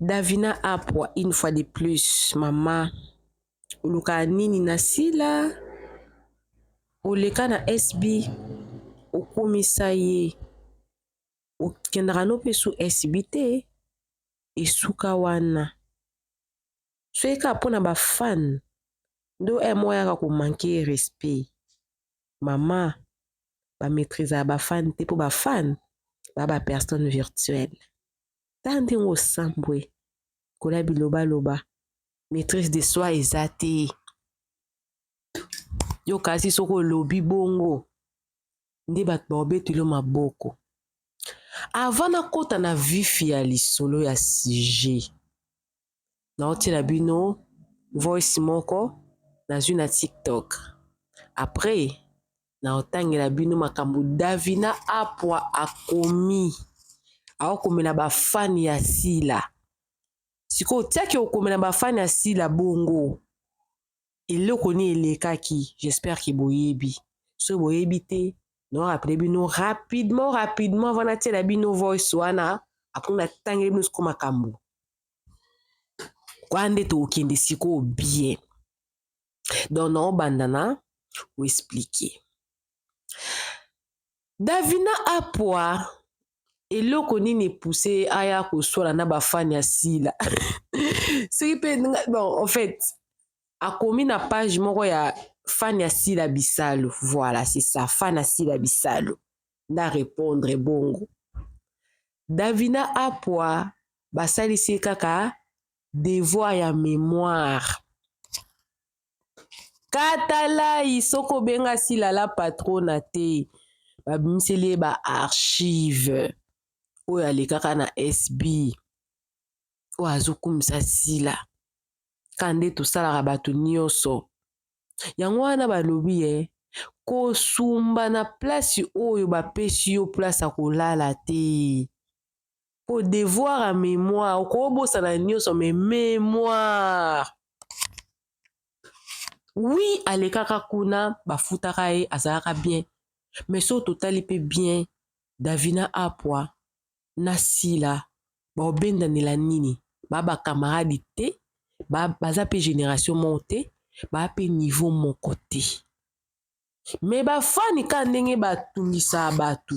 Davina Apwa une fois de plus mama oluka nini na Sila oleka na SB okumisa ye okendaka no mpe su SB te esuka wana soki kaka mpo na bafane ndo eh, moko yaka komanke respect mama bamaîtrise ya bafane te mpo bafane ba ba personne virtuelle tala ndenge osambwe kola bilobaloba maîtrise de soi eza te yo kasi soki olobi bongo nde bato baobetelo maboko avant nakota na vifi ya lisolo ya sujet naotiela bino voice moko nazwi na tiktok après naotangela bino makambo davina apua akomi aokomela bafani ya sila sikoyo otiaki okomela bafani ya sila bongo eloko nini elekaki j'espère ke boyebi soki boyebi te naorapele bino rapidement rapidement vana tiela bino voice wana apres natangeli bino siko makambo Kwa nde tokende sikoyo bien. Donc na obanda na ko expliquer. Davina Apua eloko nini pousse aya koswala na bafani ya sila soki mpe bon en fait akomi na page moko ya fani ya sila bisalu voilà c'est ça fani ya sila bisalu na répondre bongo davina apua basalisi ye kaka devoir ya memoire katalai soki obenga silala patrona te babimiseli ye baarchive oyo alekaka na sb oyo azokumisa sila ka nde tosalaka bato nyonso yango wana balobi ye eh, kosumba na place oyo bapesi yo place ya kolala te Po devoir ya memoire okobosana nioso me memoire wi alekaka kuna bafutaka ye azalaka bien me so totali mpe bien davina apwa na sila baobendanela nini ba bakamaradi te ba, baza mpe generation moko te baa mpe niveau moko te me bafani ka ndenge batungisa bato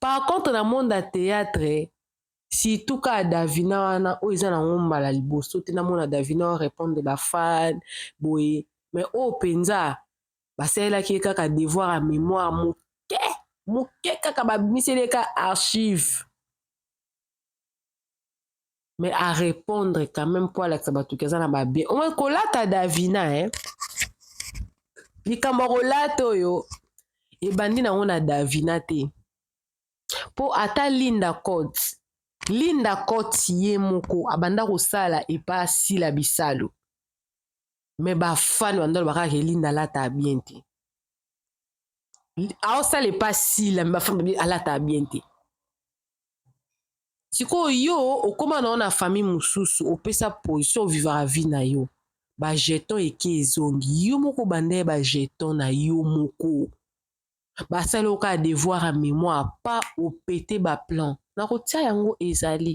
Par contre na monde ya theatre surtout ka Davina wana oyo eza nango mbala liboso te namona Davina o repondre ba fan boye mais oyo penza basalelaki ye kaka devoir ya memoire moke moke kaka babimiseli ye kaka archive. mais a répondre quand même mpo alakisa bato ke aza na babien omoi kolata davina eh? likambo ya kolata oyo ebandi nango na davina te mpo ata linda cote linda cote ye moko abanda kosala epa sila bisalu me bafani banda loba kaka ke linda alata bien te aosala epa sila me bafani alata bien te sikoyo yo okoma nao na famille mosusu opesa position ovivaka vie na yo bajeton eke ezongi yo moko banda ye bajeton na yo moko basali oka ya devoir ya mémoire pa opete baplan nakotia yango ezali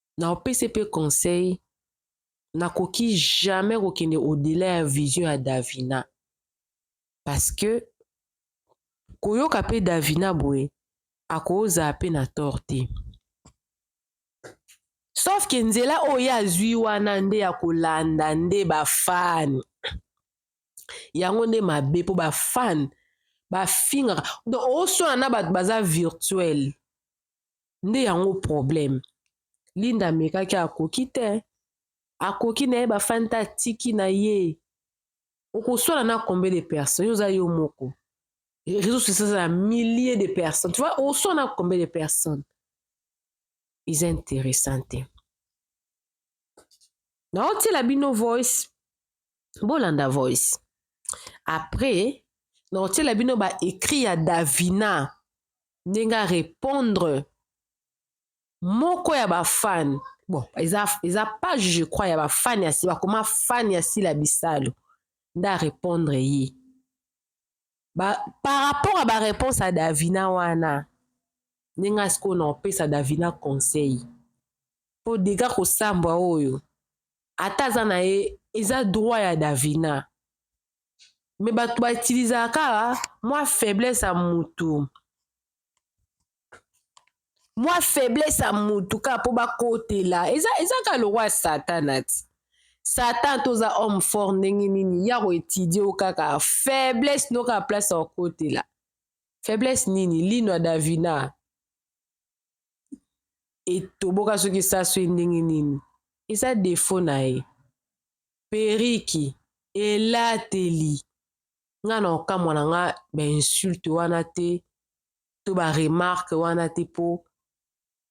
na opesi mpe conseil nakoki jamais kokende odela ya vision ya davina parce que koyoka mpe davina boye akozala mpe na tor te sauf ke nzela oyo ye azwi wana nde ya kolanda nde bafane yango nde mabe mpo bafane bafingaka donc oswana na bato baza virtuele nde yango problème linda amekaki akoki te akoki na ye bafani te atiki na ye okoswala na combien de personnes yo oza yo moko réseau social eza na milliers de personnes tu vois oswala na combien de personnes eza intéressant te naotiela bino voice bolanda voice après naotiela bino ba écrit ya davina ndenge a repondre moko ya bafane bon eza, eza page je crois ya bafane ya si bakoma fane ya sila bisalu nde arepondre ye ba, par rapport ya bareponse ya davina wana ndenge asikoyo na opesa davina conseil mpo dega kosambwa oyo ata aza na ye eza droit ya davina me bato ba utilizaka kaka mwa faiblesse ya mutu mwa faiblesse ya mutu kaka mpo bakotela eza, eza kaka lokwa satana ti satan toza homme fort ndenge nini ya koetidie o kaka faiblesse no kaka place ya kokotela faiblesse nini lino ya davina etoboka soki esaso ye ndenge nini eza defo na ye periki elateli nga na okamwa na nga ba insulte wana te to ba remarque wana te po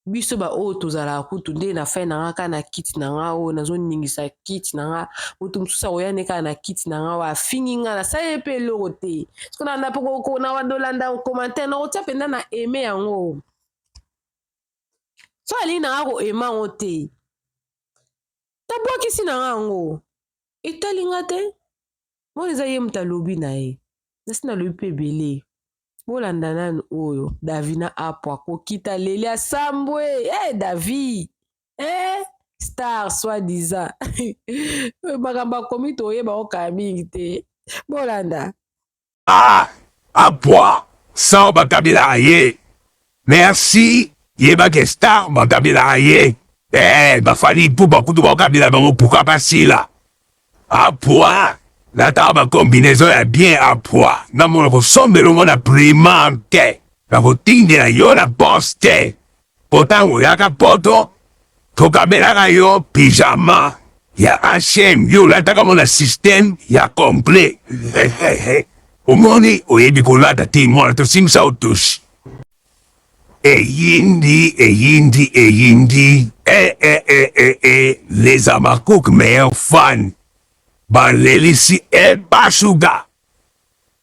biso ba oyo tozalaka kutu nde na fin na nga kaka na kiti na nga oyo nazoningisa kiti na nga moto mosusu akoya nde kaka na kiti na nga oyo afingi nga nasali ye mpe eloko te soki nalanda mpe kokona wadolanda commentaire nakotya mpenza na aime yango so alingi na nga koaime yango te tabwakisi na nga yango etali nga te mona eza ye moto alobi na ye nasi nalobi mpe ebele bolanda nanu oyo davi na apo akokita leli asambwe e hey, eh, davi e hey, eh, star soi disant makambo akomi toyeba okaya mingi te bolanda Ah apua sans bakabelaka ye merci yeba ke star bakabelaka ye eh ba Fally Ipupa kutu bakabela bango pourquoi pas Sila apua natala ba combinaison ya bien apua namona kosombela ngo na prima te nakotindela yo na poste Po tango oyaka poto tokabelaka yo pyjama ya H&M yo olataka ngo na système ya complet omoni oyebi kolata te mwana tosimbisa yo touche. Eyindi eyindi eyindi eh eh eh eh eh les habacuc meilleurs fans balelisi eh ba sugar.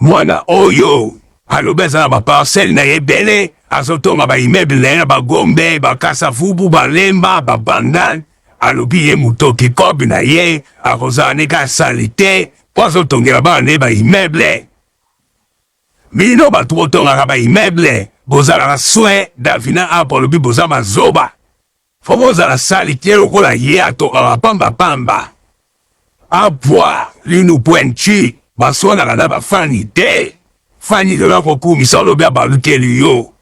Muana oyo alobi aza na ba parcelle naye ebele azo tonga ba immeuble naye na ba gombe, ba kasa vubu, ba lemba, ba bandal alobi ye mutoki cob naye ako zala ne ka salite po azo tongela bana naye ba immeuble bino batu bo tongaka ba immeuble bozalaka soin Davina apo alobi boza ba zoba Faut ozala salite lokola ye atokaka pamba pamba. A voir linu pointu baswanaka na ba fani te. Fani lelo akokumisa olobi abalukeli yo.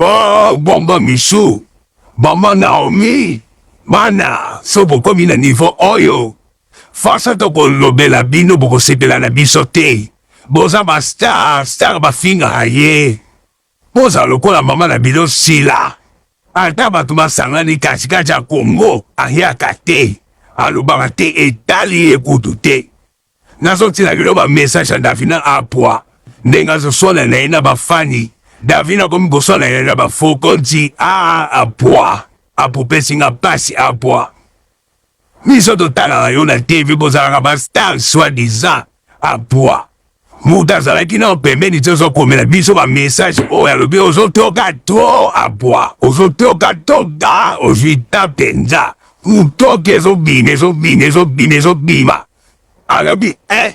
Oh bomba michou, bomba Naomi, bana so bokomi na niveau oyo force tokolobela bino bokosepela na biso te. Boza ba star, star bafingaka ye. Bozala lokola mama na bino Sila. Ata bato basangani katikati ya Congo, ayaka te, alobaka te, etali ye kutu te. Nazotinda bino ba message ya Davina Apua, ndenge azoswana na ye na bafani. Davina akomi koswana na ye na bafokonzi. Aa, Apua, apupesi nga pasi, Apua. biso totalaka yo na TV bozalaka ba star soit disant a poids moto azalaki nao pembeni te ozokomela biso bamessage oyo alobi ozotoka to abwa ozotoka to da ozwi ta mpenza motoki ezobima ezobima ezobima ezobima alobi e eh,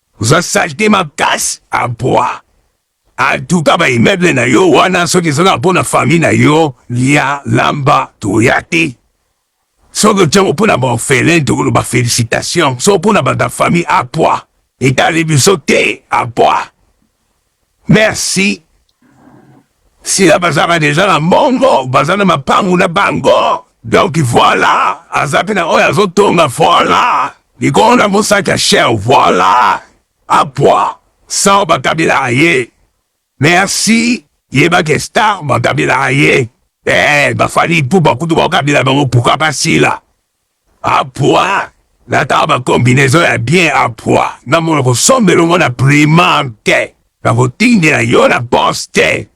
Oza salite makasi abwa. Antuka ba immeuble na yo wana soki eza kaka mpo na famille na yo, lia, lamba, toya te. Soki otia ngo mpo na ba orphelin tokoloba felicitation, soki mpo na bato ya famille abwa etali biso te abwa. Merci. Sila bazaka deja na mbongo, baza na mapangu na bango. Donc voilà, aza pe na oyo azotonga voilà. Likolo na mosaki ya cher voilà. Apwa, sans bakabela ye. Merci. Yeba ke star bakabela ye. Eh, bafali ipupa kutu bakabela bango pourquoi pas Sila? Apua natala ba combinaison ya bien apua namono kosombela yango na primante nakotindela yo na poste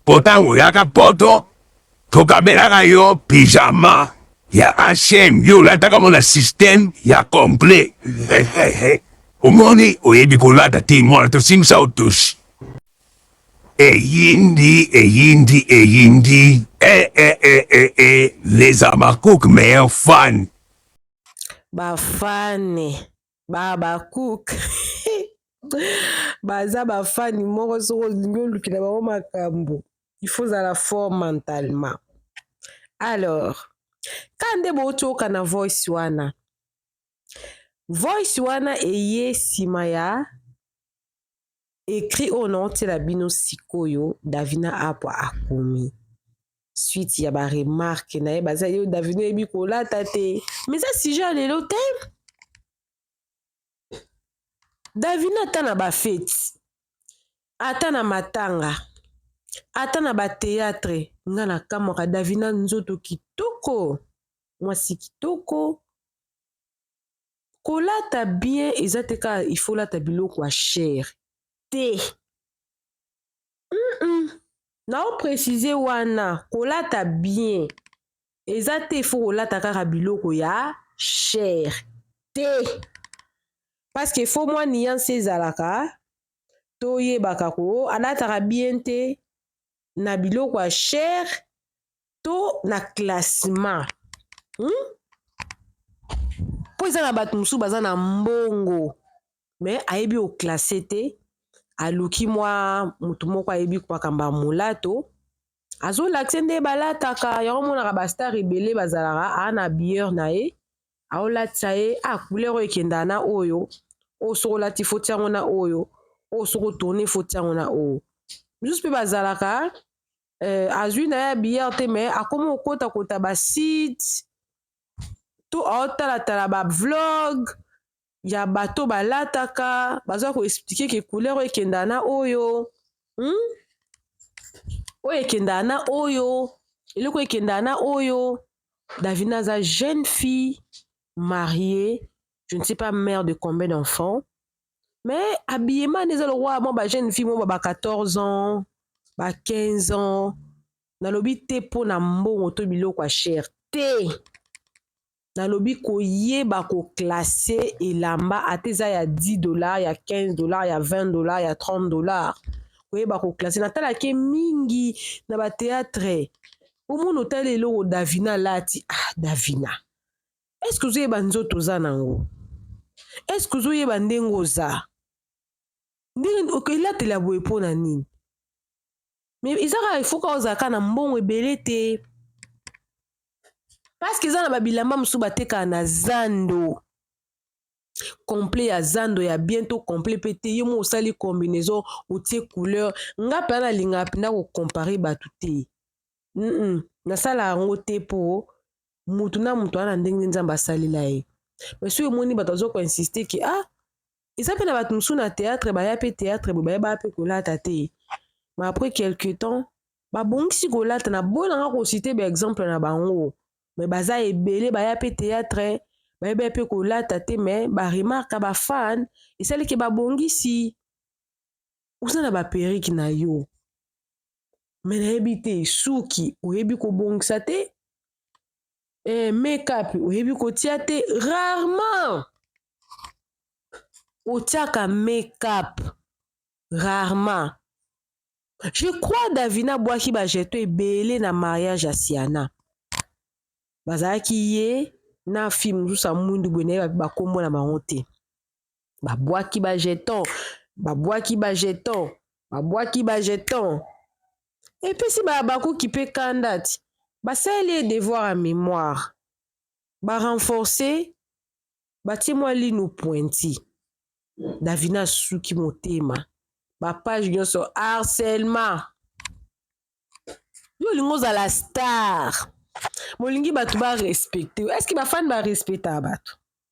po tango oyaka poto tokabelaka yo pyjama ya H&M yo olataka yango na système ya complet omoni oyebi kolata te mwana tosimbisa otosi. Eyindi eyindi eyindi eh eh eh eh eh les Habacuc meilleur fan. Ba fane ba Habacuc baza ba fane moko soko olingi olukela bango makambo il faut ozala fort mentalement alors ka nde bouti okana voice wana voice wana eye nsima ya Ecrit oyo naotiela bino sikoyo Davina Apwa akomi suite ya ba remarque na ye baza yo Davina oyebi kolata te mais eza sujet ya lelo te Davina ata na bafeti ata na matanga ata na bateatre nga na kamwaka Davina nzoto kitoko mwasi kitoko kolata bien eza te kaka il faut olata biloko ya chere te mm -mm. nao précise wana kolata bien eza te il faut kolata kaka biloko ya chere te parce que faut mwa nuance ezalaka toyebaka ko alataka bien te na biloko ya chere to na classement hmm? mpo eza na bato mosusu baza na mbongo me ayebi oklasse te aluki mwa motu moko ayebi makambo ya molato azolakise nde balataka yango omonaka bastar ebele bazalaka aa na biere na ye aolatisa ye a ah, couleur oyo ekendaka na oyo oyo soki olati foti yango na oyo oyo soki otourne foti yango na oyo mosusu mpe bazalaka euh, azwi na ye billard te mais akomi kokotakota basite to aotalatala bavlog ya bato balataka baza koexplike ke couleur oyo ekendaka na oyo hmm? oyo ekendaka na oyo eloko ekendaka na oyo davina aza jeune fille mariée je ne sais pas mère de combien d'enfants mais habillement nde eza lokola mwa ba jeune fille moko ba 14 ans ba 15 ans nalobi te mpo na mbongo to biloko ya chere te nalobi koyeba koklasse elamba ata eza ya 10 dollar ya 15 dollar ya 20 dollar ya 30 dollar koyeba koklasse natalake mingi na bateatre omona otali eloko davina alati ah davina est ce que ozoyeba nzoto oza nango est ce que ozoyeba ndenge oza ndenge okelatela boye mpo na nini me eza kaka ifoka ozalaka na mbongo ebele te parceke eza na babilamba mosusu batekaka na zando complet ya zando ya bien to complet mpe te ye mo osali combinaison otie couleur nga mpenza nalingaka mpenza kocompare bato te mm -mm. nasalaka yango te mpo mutu na mutu ana ndenge nzambe asalela ye mais soki omoni bato azo koinsiste ke ah eza mpe na bato mosusu na théâtre baya mpe théâtre boye baye baya mpe kolata te mais après quelque temps babongisi kolata na boy nanga kosite baexemple na bango mais baza ebele baya mpe théâtre baye baya mpe kolata te mais baremarka bafane esalike babongisi oza na baperike na yo me nayebi te suki oyebi kobongisa te eh, makeup oyebi kotia te rarement otiaka makeup rarement je crois davina abwaki bajeto ebele na mariage ya siana bazalaki ye na fille mosusu ya mwindu boye nayebi bakombo na bango te babwaki ba jeton babwaki ba jeton babwaki ba jeton epesi bahabakuki mpe kanda ti basaleli ye devoir ya memoire barenforce batie mwa lino pointi davina asuki motema bapage nyonso harcèlement yo olingi ozala star molingi bato barespecte estce bafani barespectaka bato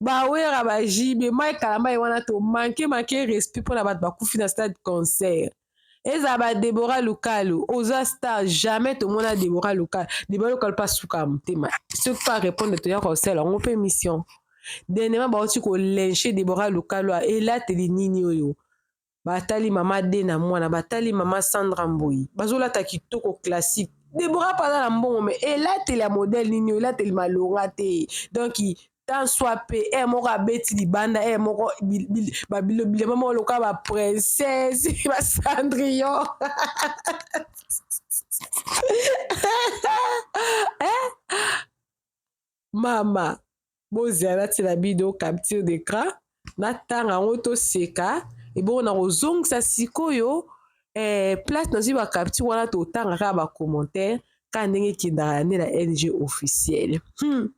bawera ba jb mai kalambay wana to manke manke respect mpo na bato bakufi na stade concert ezala ba debora lukalu oza star jamais tomona debora lukalu debora lukalu mpe asuka ya motema soki mpe arépondre toya kosala yango mpe mission denema bauti kolenche debora lukalu elateli nini oyo batali mama de na mwana batali mama sandra mboyi bazolata kitoko classique debora mpe aza na mbongo me elateli ya modele nini elateli malonga te donk tant soit pe e moko abeti libanda e moko bilema moko lokola baprincese basandrion eh? mama bozela natyela bido capture d'écran natanga yango toseka ebongo na kozongisa sikoyo eh, place nazwi bacapture wana totanga kaka bacommentaire kaka ndenge ekendaka ya nde na lg officiel hmm.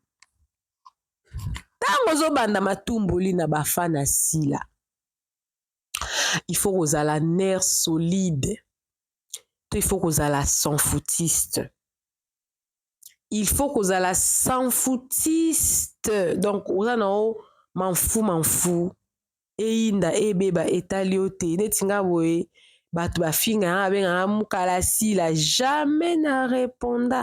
ntango ozobanda matumboli na bafana ya sila il faut kozala nerf solide to il faut kozala sans foutiste il faut kozala sans foutiste donc oza na yo manfu manfu eyinda ebeba etali yo te neti nga boye bato bafinga yanga abengaka mukalasila jamais na reponda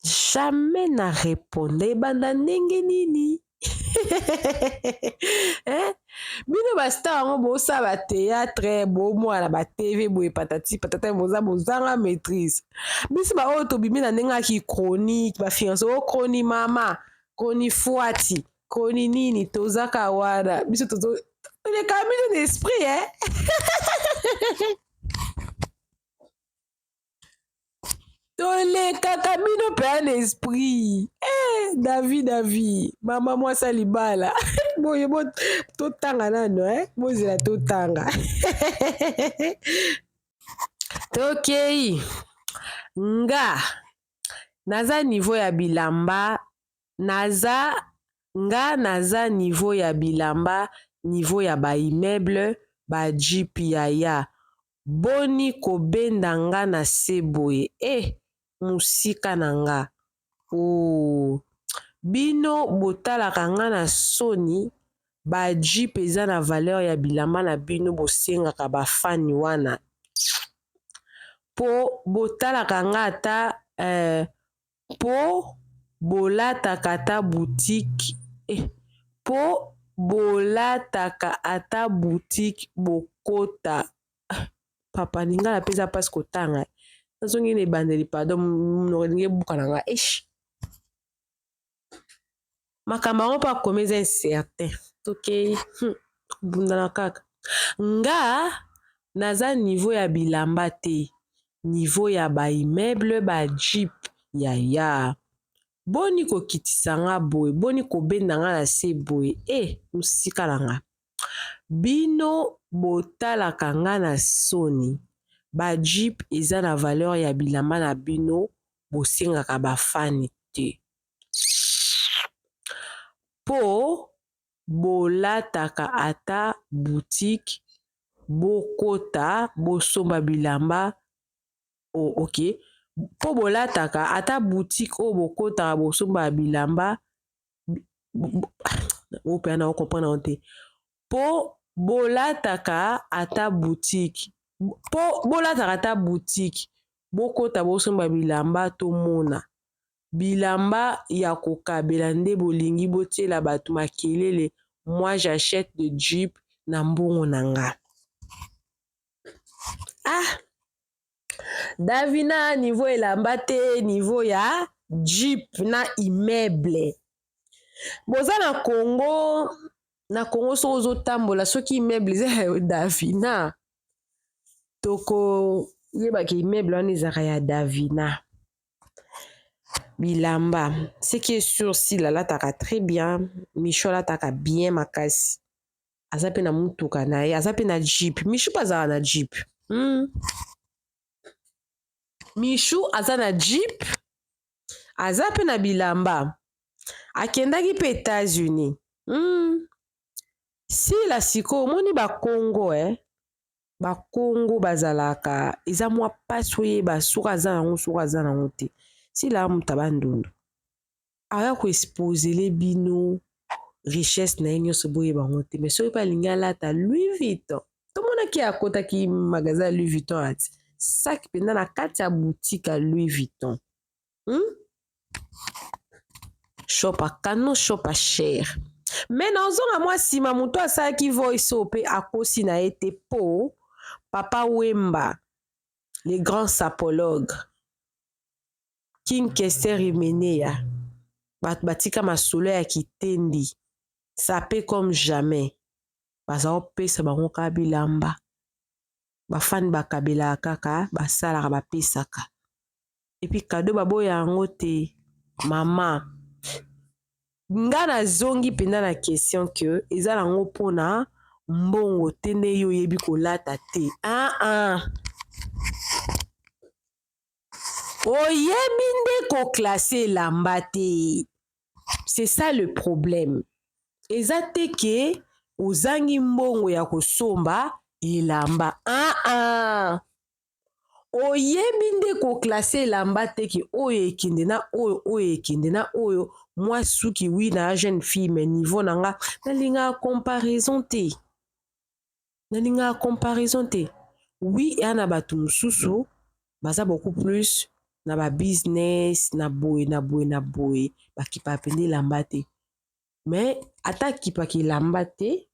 jamais na reponda ebanda ndenge nini eh? bino bastar yango bosala bateatre bomwana batv boye patati patata boza bozanga maîtrise biso baoyo tobimi na ndenge ya kichronique bafinance o chroni mama chroni fuati chroni nini tozaka wana biso tozo toleka bino na esprit eh? tolekaka bino mpenza na esprit eh, davi davi mama mwasi ya libala boye bo totanga nano eh? bozela totanga tokei nga naza nivo ya bilamba naza nga naza nivo ya bilamba nivo ya baimmeuble ba jipi yaya boni ko benda nga na se boye eh musika na nga ooh Bino bo talaka nga na soni ba jeep eza na valeur ya bilamba na bino bo sengaka ba fani wana Po bo talaka nga ata eh po bolataka ata boutique eh, po bolataka ata boutique bokota ah, papa lingala mpe eza mpasi kotanga nazongi na ebandeli pardon monoko elingi ebuka na nga eish makambo yango mpo akomi eza incertain tokei hmm, kobundana kaka nga naza niveau ya bilamba te niveau ya ba immeuble ba jeep ya ya boni kokitisa nga boye boni kobenda nga na se boye e eh, mosika na nga bino botalaka nga na soni ba jeep eza na valeur ya bilamba na bino bosengaka bafani te po bolataka ata boutique bokota bosomba bilamba ok po bolataka ata boutique oyo bokotaka bosomba bilamba oyo pe nako comprendre yango te po bolataka ata boutique po bolataka ata boutique bokota bosomba bilamba tomona bilamba ya kokabela nde bolingi botiela batu makelele moi j'achète de jeep na mbongo na nga ah Davina niveau elamba te niveau ya jeep na immeuble boza na Congo na Congo soki ozotambola soki immeuble eza ya Davina toko yeba ke immeuble wana ezalaka ya Davina. bilamba ce qui est sur sila alataka très bien michou alataka bien makasi aza mpe na motuka na ye aza mpe na jeep michou mpe azala na jeep hmm. michou aza na jeep aza mpe na bilamba akendaki mpe etats-unis hmm. sila sikoyo omoni bakongo e eh? bakongo bazalaka eza mwa mpasi oyeba soki aza nango soki aza nango te sila amuta bandundu aya koexposele bino richesse na ye nyonso boyeba yango te mai soki mpe alingi alata louis vuitton tomonaki akotaki magasin ya louis vuitton ati saki mpenza na kati ya boutique ya louis vuitton hmm? shopa kano shopa cher me na ozonga mwa nsima moto asalaki voice oyo mpe akosi na ye te mpo papa wemba le grand sapologue king kester imeneya bato batika masolo ya kitendi sape comme jamais baza kopesa bango kaka bilamba bafani bakabelaka kaka basalaka bapesaka epuis kado baboya yango te mama nga nazongi mpenza na question ke eza nango mpona mbongo te nde yo oyebi kolata te aa ah, ah. oyebi nde koklase elamba te c'est ça le problème eza te ke ozangi mbongo ya kosomba elamba aa ah, oyebi nde koklase elamba te ke oyo ekende na oyo oyo ekende na oyo mwa suki wi na ya jeune fille me niveau na nga nalingaka comparaison te nalingaka comparaison te wi eya na bato mosusu baza beaucoup plus na ba business na boye na boye na boye bakipaka mpenza elamba te me ata akipaka elamba te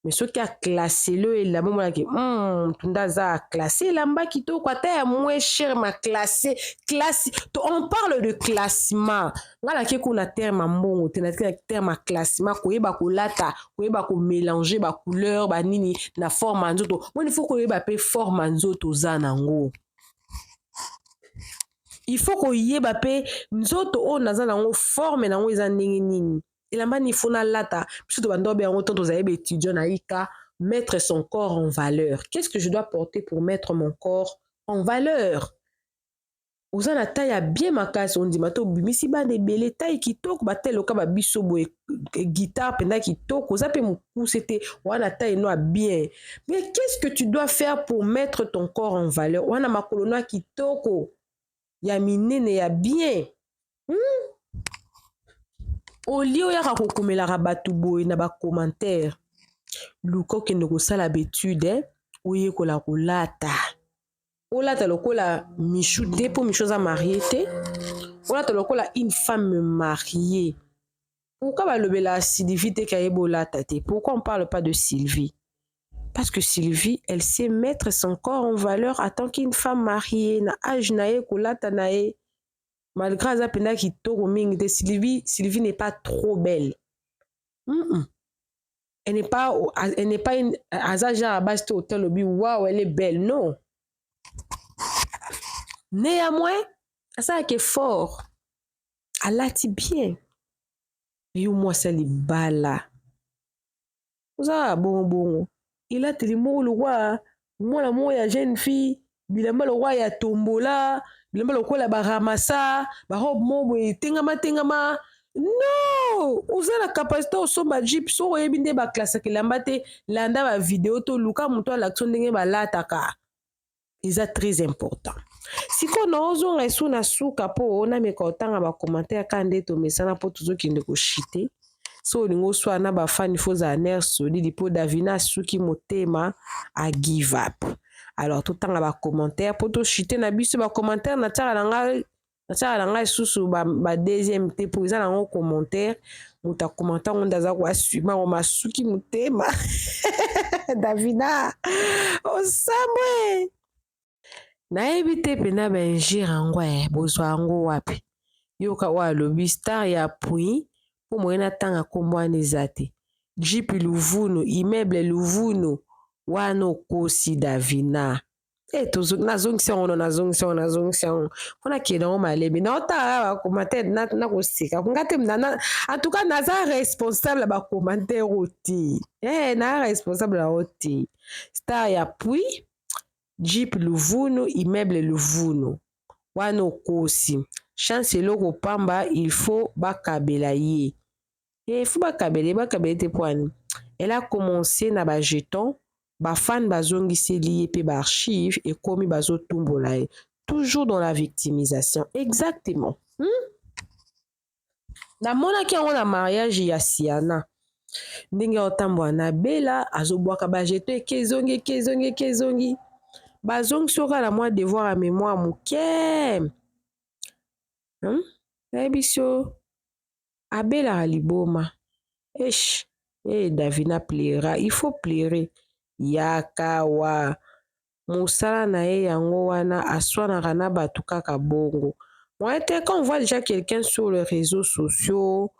mais soki aclassele yo elamba omonaki hmm, tunda aza aclasse elamba kitoko ata ya moins cher ma classe classe to on parle de classement ngai nake kuna terme ya mbongo te nake na terme ya classement koyeba kolata koyeba komélange bacouleur banini na forme ya nzoto moni fo koyeba mpe forme ya nzoto oza nango il faut koyeba mpe nzoto oyo naza nango forme nango eza ndenge nini elamba ni fo nalata biso to banda obe yango ntango tozali baetudiant na ika mettre son corps en valeur qu'est ce que je dois porter pour mettre mon corps en valeur oza na tai ya bien makasi ondima te obimisi bana ebele tai kitoko batai loka ba biso boye guitare mpenza kitoko oza mpe mokuse te oza na tai no ya bien mais qu'est ce que tu dois faire pour mettre ton corps en valeur wana makolo no ya kitoko ya minene ya bien hmm? olie oyaka kokomelaka bato boye na bacommentaire luka okende kosala betude eh? oyekola kolata olata lokola michou te mpo michou aza marie te olata lokola une femme marie Pourquoi balobela Sylvie te kaye bolata te? Pourquoi on parle pas de Sylvie? Parce que Sylvie, elle sait mettre son corps en valeur en tant qu'une femme mariée na âge na ye kolata na ye. Malgré aza penda kitoko mingi te Sylvie, Sylvie n'est pas trop belle. Mm -mm. Elle n'est pas elle n'est pas une aza genre à base to hôtel obi waouh elle est belle non. Néanmoins, asalaka effort alati bien yo mwasi ya libala oza kaka bongo bongo elateli moko lokwa mwana moko ya jeune fille bilamba lokwa ya tombola bilamba lokola baramasa barobe moko boye etengama tengama non oza na capacité osomba jeep soki oyebi nde baclassaka elamba te landa bavideo to luka moto alakisa ndenge balataka eza très important sikoyo naozonga esu na suka mpo nameka otanga bacommentaire kaka nde tomesana mpo tozokende koshite so olingi oswa na bafani fo ozala nere solide mpo davina asuki motema a give up alors totanga bacommentaire mpo toshite na biso bacommentaire natiaka na ngai nasalaka na ngai lisusu ba deuxième te mpo eza nango commentaire moto akomanta ngo nde aza koassume yango masuki motema davina osambwe nayebi te mpena baingire yango e eh, bozwa yango wapi yoka oyo alobi star ya pui mpo moye natanga nkombo wana eza te jipi luvunu immeuble luvunu wana okosi davina e eh, nazongisi yango no nazongisi yango nazongisi yango mpo nakende yango malemi naotala bacommentaire nakoseka nga te en tout cas naza responsable ya bacommentaire oyo te e naza responsable yango te star ya puis jeep luvunu immeuble luvunu wana okosi chance eloko pamba il faut bakabela ye eh faut ba kabele ba kabele te poani elle a commencé na ba jetons ba fans bazongiseli ye pe ba archives ekomi bazotumbola ye toujours dans la victimisation exactement hmm? namonaki yango na mariage ya siana ndenge aotambwa na bela azobwaka bajeto eke ezongi eke ezongi eke ezongi bazongisi oka na mwa devoir ya mémoire moke hmm? nayebisi yo abelaka liboma eish eh davina pleura il faut pleure yaka wa mosala na ye yango wana aswanaka na bato kaka bongo moye te quand on voit déjà quelqu'un sur les réseaux sociaux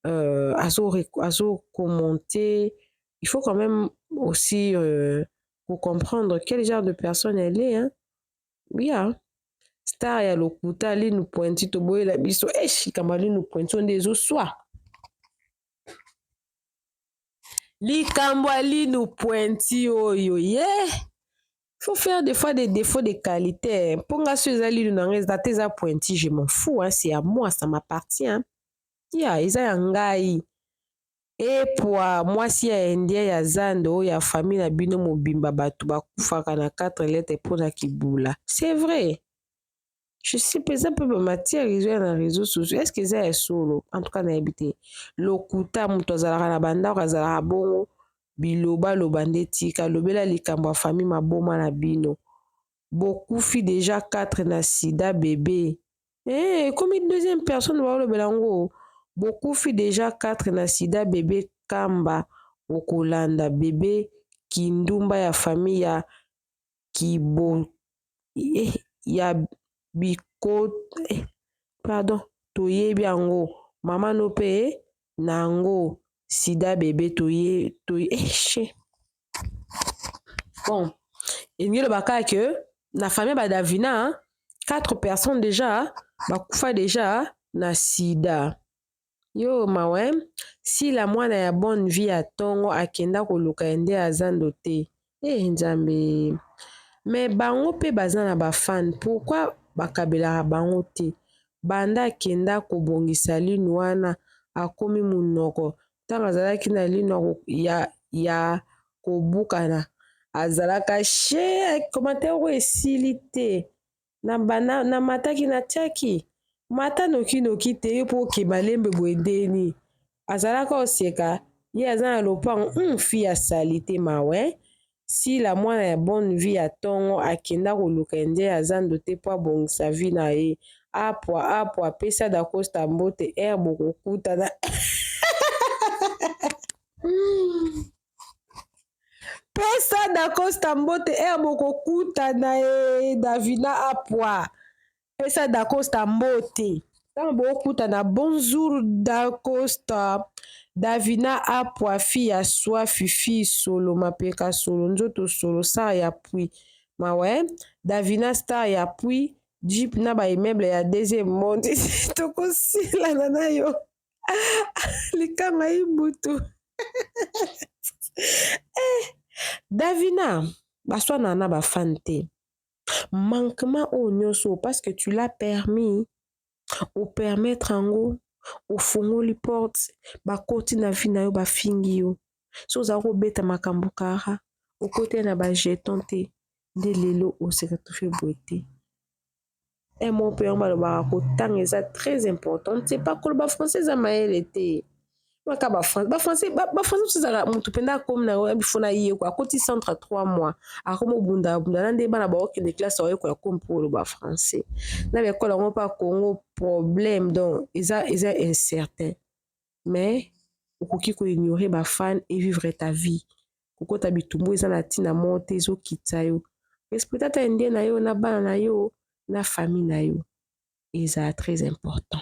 euh, azo, azo commenter il faut quand même aussi euh, pour comprendre quel genre de personne elle est hein? Yeah. Star ya lokuta Linu Pointu toboyela biso esh likambo ya Linu Pointu nde ezoswa likambo ya Linu Pointu oyo ye yeah. faut faire des fois des défauts de qualité mpo nga so eza Linu na nga eza te eza Pointu je m'en fous hein, c'est à moi ça m'appartient ya yeah, eza ya ngai Epwa mwasi ya indien ya zando oyo ya famille na bino mobimba bato bakufaka na 4 lettre mpo na kibula c'est vrai je sais pas eza mpe ba matière ezo ya na réseau sociaux est-ce que eza ya solo en tout cas nayebi te lokuta moto azalaka na bandako azalaka bongo biloba loba nde tika lobela likambo ya famille maboma na bino bokufi deja 4 na sida bebe eh, ekomi deuxième personne baolobela yango bokufi deja 4 na sida bebe kamba okolanda bebe kindumba ya famille ya kibo eh, ya biko eh, pardon toyebi yango mama no mpe eh, na yango sida bebe toye toye eh, bon elingi eloba kaka ke na famille ba davina 4 personnes déjà bakufa déjà na sida yo mawe sila mwana ya bonne vie ya ntongo akenda koluka ye nde aza ndo te e nzambe me bango mpe baza na bafane pourkui bakabelaka bango te banda akenda kobongisa lini wana akomi monoko ntango azalaki na lino ya, ya kobukana azalaka she commentaire oyo esili te na bana na mataki na tiaki mata noki noki te yo mpo oke malembe boye ndeni azalaka oseka ye aza na lopango hum fi ya sali te mawe Sila mwana ya bonne vie ya tongo akenda koluka indien ya zando te po abongisa vie na ye. Apua apua pesa dacosta mbote heure bokokutana. pesa dacosta mbote heure bokokutana ye davina apua. Pesa Dacosta mbote. Ntango bokutana, bonjour Dacosta. Davina apwa fi ya swafi fi solo mapeka solo nzoto solo star ya pui mawe Davina star ya pui jeep na ba immeuble ya deuxième monde tokosilana na yo likama ibutu eh, Davina baswana na bafan te manquement oyo nioso parce que tu l'as permis o permettre yango ofungoli porte bakoti na vie na yo bafingi yo so oza kobeta makambo kara okoteli na ba jeton te nde lelo oseretrouve boye te emo mpe yango balobaka kotanga eza très important te pakoloba français eza mayele te maka ba français ba français ba, ba français tozala mutu penda akomi na yo bifo na ye kwa koti centre 3 mois akomi obunda abunda na nde bana ba oke de classe oyo kwa komi pour le ba français na ba école yango pa Congo problème donc eza eza incertain mais okoki ko ignorer ba fan et vivre ta vie kokota bitumbu eza na tina moko te ezokitisa yo respecta ta indien na yo na bana na yo na famille na yo eza très important